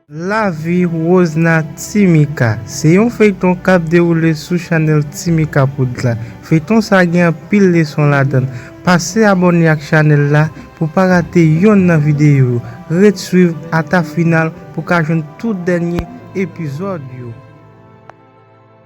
Lavi woz nan Ti Mika se yon feyton kap dewoule sou chanèl Ti Mika Prod la. Feyton sa gen anpil leson ladann. Pase abòne ak chanèl la pou pa rate yonn nan videyo yo. Ret swiv ata final pou ka jwenn tout dènye epizòd yo.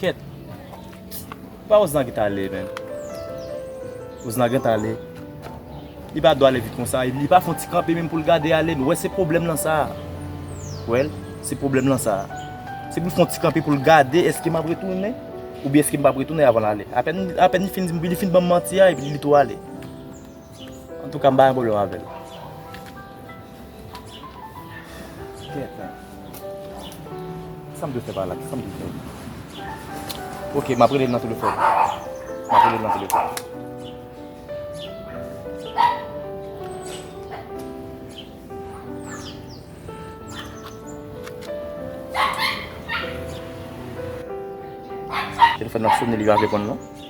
Kèt. Se pa Osnar ki t ale menm. Osnar gentan ale. Li pa dwe ale vit konsa. Li pa fè yon ti kanpe menm pou l gade ale. Ou wè se pwoblèm lan sa a. Ou wè l? Se pwoblèm lan sa a. Se pou l fè yon ti kanpe pou l gade èske m ap retounen oubyen èske m p ap retounen avan l ale. Apèn li fin di m, li fin ban m manti a epi li tou ale. Antouka m pa gen pwoblèm avè l. Gètan. Sa m dwe fè pa la? Kisa m dwe fè? Ok, m ap rele l nan telefòn. M ap rele l nan telefòn. Telefòn nan ap sone, li pa reponn non.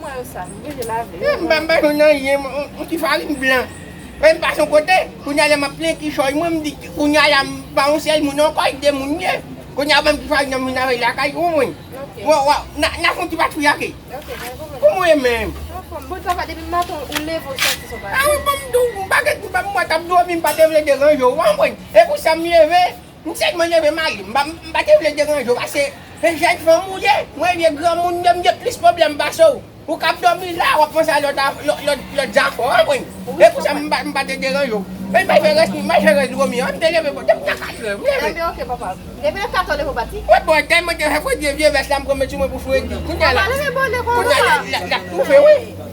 Mwen yo sal m oblije lave yo. M pa bay nou nan yen yon ti farin blan. Mwen m pase yon kote, kounye a lè m ap plen kichòy mwen m di kounye a la m pa yon sèl moun ankò e 2 moun m ye. Kounye a banm ti farin nan m vin avèl lakay pou mwen. Na fon ti pati fiyake. Pou mwen menm. Bon travay depi m maten ou leve ou santi son bagay. A wi bon m tou m pa gen m pa m wè tap domi m pa te vle deranje w w konprann. E pou sa m leve M tèlman renmen marim m pa te vle deranje w pase se jèn fanm ou ye mwen vye granmoun menm gen plis pwoblèm pase w ou kab dòmi la wap panse a lòt lòt zafè w konprann se pou sa m pa te deranje w men mwen fè rès m al fè rès dwomi an m te leve bò depi nan 4 è m leve Tande ok papa depi nan 4 è w leve w pati Mwen bon tèlman te fè fredi vye vès la m pran mete sou mwen pou fredi kounya la kounya lap toufe wi.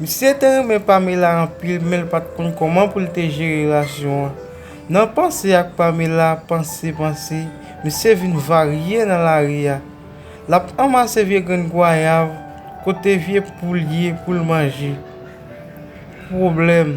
Misye te renmen Pamela anpil menl pat konn kòman poul te jere relasyon an. Nan panse ak Pamela panse panse misye vin varye nan lari a. Lap anmase vye grenn gwayav kote vye poul ye poul manje. Pwoblèm.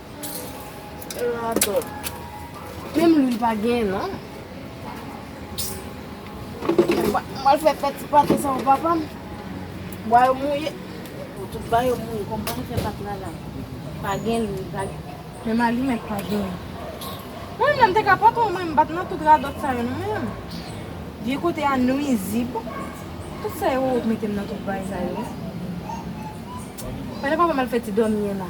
Radòt. Menm lwil pa genyen non. Mwen al fè pati pati sa ou papa m. Bwa yo mouye. Tout bwa yo mouye. Kòm mwen al fè pati la la. Pa gen lwil pa gen. Menm alimèt pa genyen. Mwen menm te ka patwon mwen m pat nan tout radòt sa yo non menm. Vye kote a nwizib. Tout sa yo wè ou t mete m nan tout bagay sa yo. Pandan papa m al fè ti dòmi an la.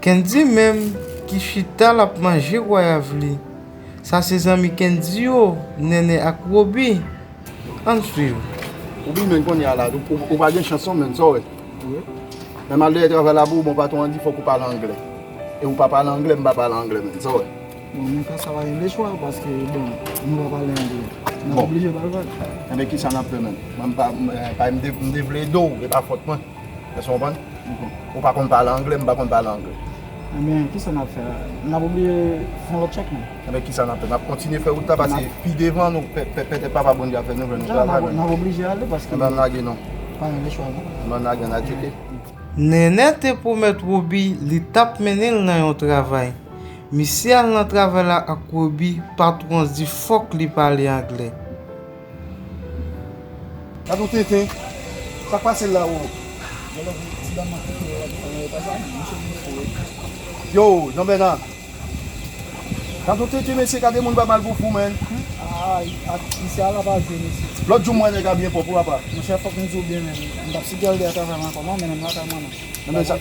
Kendy menm ki chita lap manje gwayav li sa se zanmi kendy yo nènè ak roby ann swiv. Roby menn konye a la ou pa gen chans non menn sa w wè menm al dèyè travay la pou ou bon patron an di fòk ou pale anglè e ou pa pale anglè m pa pale anglè menn sa w wè. Bon nan ka sa pa gen de chwa paske bon nou pa pale anglè nap oblije pale pale. Enben kisa nap fè menn m pa m te vle ede w e pa fòt mwen. Èske w konprann? Ou pa konn pale angle, m pa konn pale angle. Enben, ki sa n ap fè? N ap oblije fè yon lòt tchèk nou. Enben, ki sa n ap fè? N ap kontinye fè wout la pase pi devan nou, pètèt Papa Bondye ap fè nou jwenn yon travay menm. N ap oblije ale paske. Enben, ann lage non. Pa gen lòt chwa non. Enben, ann lage, ann al tcheke. Nènè te pwomèt Wobi li t ap mennen l nan yon travay. Misye al nan travay la ak Wobi, patwon di fòk li pale angle. Gad yon tenten, sak pase la oo. Yo jean bèna. Gad yon tenten mesye gade moun bay mal pou fou man. Lòt jou m wè nèg la byen pwòp wi apa. Enben sak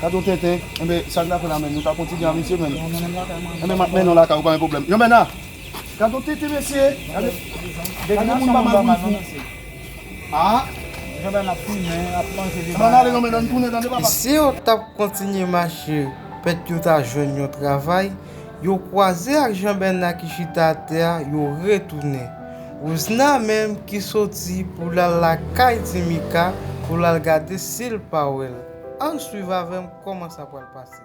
gad yon tenten enben sak nap fè la menm nou ta kontinye a mesye menn. Enben map mennen w lakay ou pa gen pwoblèm jean bèna. Gadon tete mesye. Gadon moun pa mal pou l fou. Aah. Ann ale non men nan tounen tande papa. Si yo t ap kontinye mache pèt yo ta jwenn yon travay, yo kwaze ak Jean Bernard ki chita atè a yo retounen. Rouzna menm ki soti pou l al lakay ti Mika pou l al gade si l pa wè l. Ann swiv avè m kòman sa pral pase.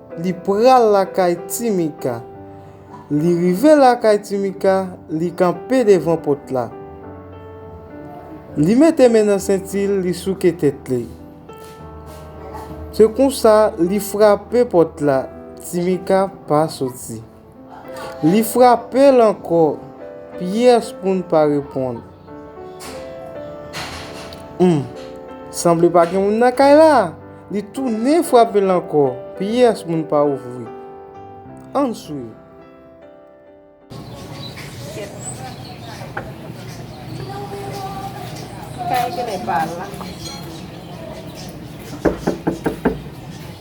Li pral lakay ti Mika. Li rive lakay ti Mika, li kanpe devan pòt la. Li mete men nan senti l, li souke tèt li. Se konsa li frape pòt la, ti Mika pa soti. Li frape l ankò. Pyès moun pa reponn. Humm. Sanble pa gen moun nan kay la. Li tounen frape l ankò. Pyès moun pa ouvri. Ann swiv.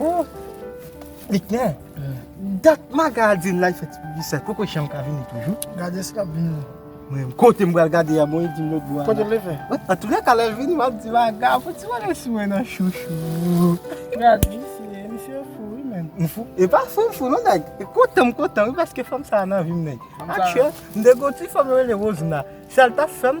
Oh! Liknè, dat magadin la fè ti piblisay, poko janm ka vini toujou. Gade si lap vini. Mwen menm, kote m pral gade a, bon e di m lòtbò a. Kote l leve? Antoulèka lè l vini m ap di l aga, fò ti bagay sou mwen nan chouchou. Gade misye, misye ou fou wi menm. M fou? E pa fou m fou non nèg, e kontan m kontan wi paske fanm sa a nan vi m nèg. Akchè, m te gen yon ti fanm yo rele Rozina, sa l t ap fè m.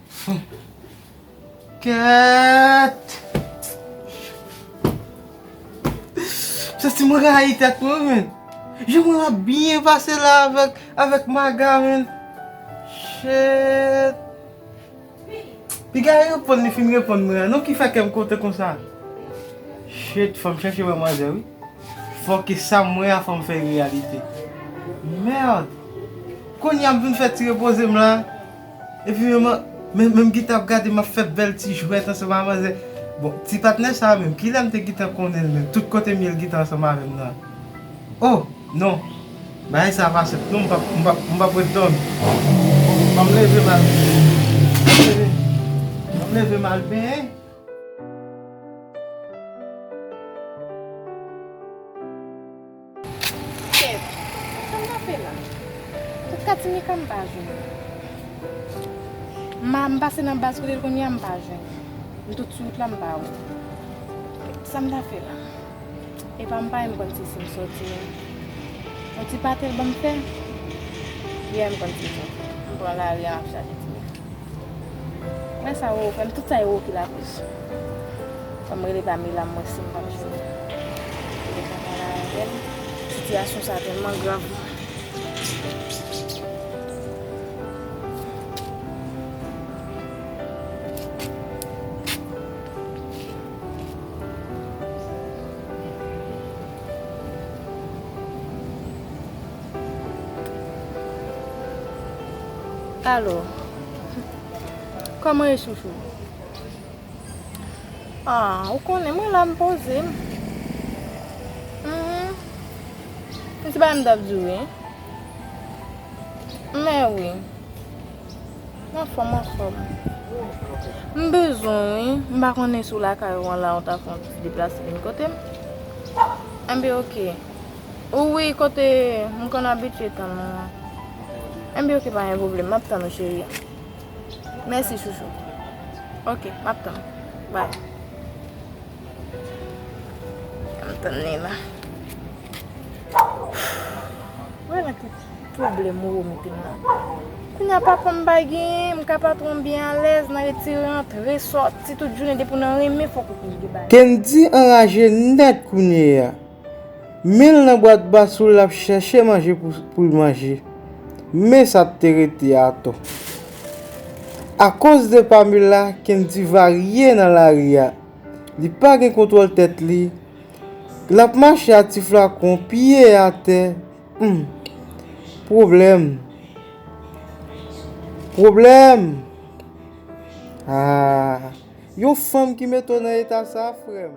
Kèètt! M santi m rayi tèt mwen menn! Jan mwen ap byen pase la avèk Maga menn! Cheètt! Piga reponn li fin reponn mwen an non ki fè kè m kontan konsa! Cheètt fò m chèche wè manzè wi! Fò ke sa m wè a fò m fè l reyalite! Merd! Kounya m vin fè ti repoze m la! Epi menm an, menm m gentan ap gade m ap fè bèl ti jwèt ansanm ak manzè. Bon, ti patnè sa a menm, ki lè m te gentan konnen l menm? Tout kote m ye l gentan ansanm avè m nan. O! Non! Bagay sa a pa senp non, m p ap, m p ap, m p ap ret dòmi. An m leve m al, an m leve m al benyen. Kèt, sa m ta fè la? Kot Katinika m pa jwenn. M a m pase nan baz kote l konn ye a m pa jwenn. M tout sou wout la m pa wè l. Sa m ta fè la? Epa m pa renm konn se si m sòti non. Yon ti pate l ban m fè? Yè m konn se sa. M pran lari a m ap chache ti moun. Mwen sa yo oke, tout sa yo oke la plis. Fwa mwen rele Pamela mwen si mwen pap jwenn. Mwen gen tan pale avèl. Sitiyasyon sa tèlman grav mwen. Alo Koman e chouchou Aww ou konnen mwen la m poze m Humm m se bagay m tap di w wi Men wi M anfòm m anfòm M bezwen w wi M pa konnen si w lakay ou an la ou ta fè yon ti deplase vin kote m Enben ok Ou wi kote m konn abitye tann ou an. Enbyen ok pa gen pwoblèm map tann ou cheri. Mèsi chouchou. Ok map tann ou bay. Ann tann li la. Mwen la ki pwoblèm ou mete m nan. Kounya patwon m bay genyen m ka patwon m byen alèz nan retire rantre soti tout jounen depi w nan renmen fòk ou touche de bagay. Kendy anraje nèt kounye a. Men l nan bwat basou l ap chèche manje pou l manje. Men sa t te rete a atò. Akoz de Pamela, Kendy varye nan lari a. Li pa gen kontwòl tèt li. L ap mache a ti flakon, pye atè. Humm. Pwoblèm. Pwoblèm. Haa. Yon fanm ki mete w nan eta sa frem.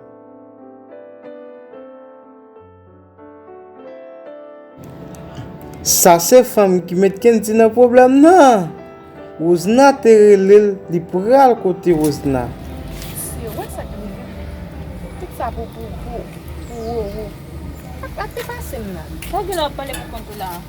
Sase fanm ki met kendy nan problem nan. Rosna te relel li pral kote rosna. Mesye wè sak rive menm. Tout sa pou pou pou pou roro. Sak te pasem la. Sa gin ap pale pou kont ou la.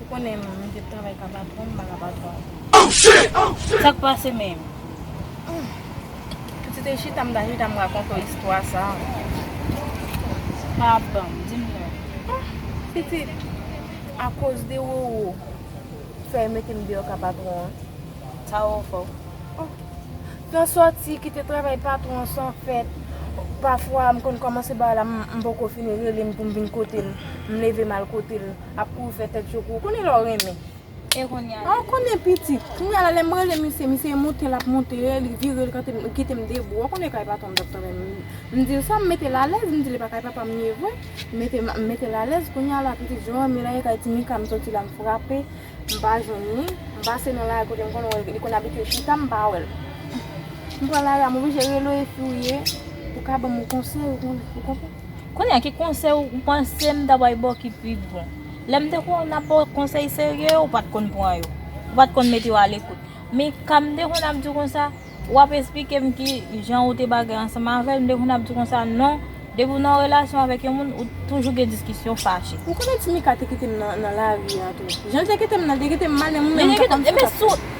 Ou konnen m te travay ka patwon m pa ka patwon w. Sa k pase menm? Si w te chita m ta chita m rakonte w istwa sa. Pa ap ban m, di m non. Pitit, akoz de Roro ki fè yo mete m deyò ka patwon an. Sa Roro fè w? Tan sòti kite travay patwon an san fèt. Pafwa m konn kòmanse bagay la m poko fini rele m pou m vin kote l. M leve m al kote l. ap ouvè tèt yo pou ou. Konnen lè w renmen. E kounye a? Ou konnen piti. Kounye a la lè m rele misye, misye monte l ap monte, li vire l kante m, li kite m debou. Ou konnen kay papa m t ap travay m. M di l sa, m mete l alèz, m di l e pa kay papa m ye vre. M mete m mete l alèz. Kounye a la pitit jan w wè m yo la e kay ti Mika m soti la m frape, m pa jwenn ni. M pase nan lari kote m konn wè l, li konn abite chita, m pa wè l. M pran lari a m oblije rele w e fi w ye pou w ka ban m yon konsèy ou konprann. Kounye a ki konsèy ou panse m ta bay ba w ki pi bon? Lè m te konn ap ba w konsèy serye, ou pa t konn pran yo. Ou pa t konn mete yo alekout. Men, ka m te konn ap di w konsa, w ap esplike m ki jan ou te bagay ansanm avè l, m te konn ap di w konsa, non, depi w nan yon relasyon avèk yon moun, ou toujou gen diskisyon, fache. Ou konnen ti Mika te kite m nan lari a tou. Jan l te kite m nan, l te kite m mal, men mwen menm m pa t konn sa k ap fè m.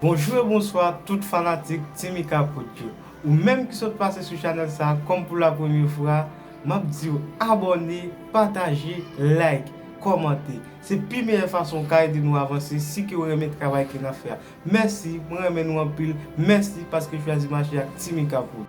Bonjou e bonswa tout fanatik Team Ikapod yo Ou menm ki sot pase sou chanèl sa kòm pou la premye fwa Map diw abòne, pataje, like, kòmante Se pi meyè fason ou ka ede nou avanse si ke ou renmen travay ke nap fè a Mèsi, mwen renmen nou anpil Mèsi paske chwazi mache ak Team Ikapod.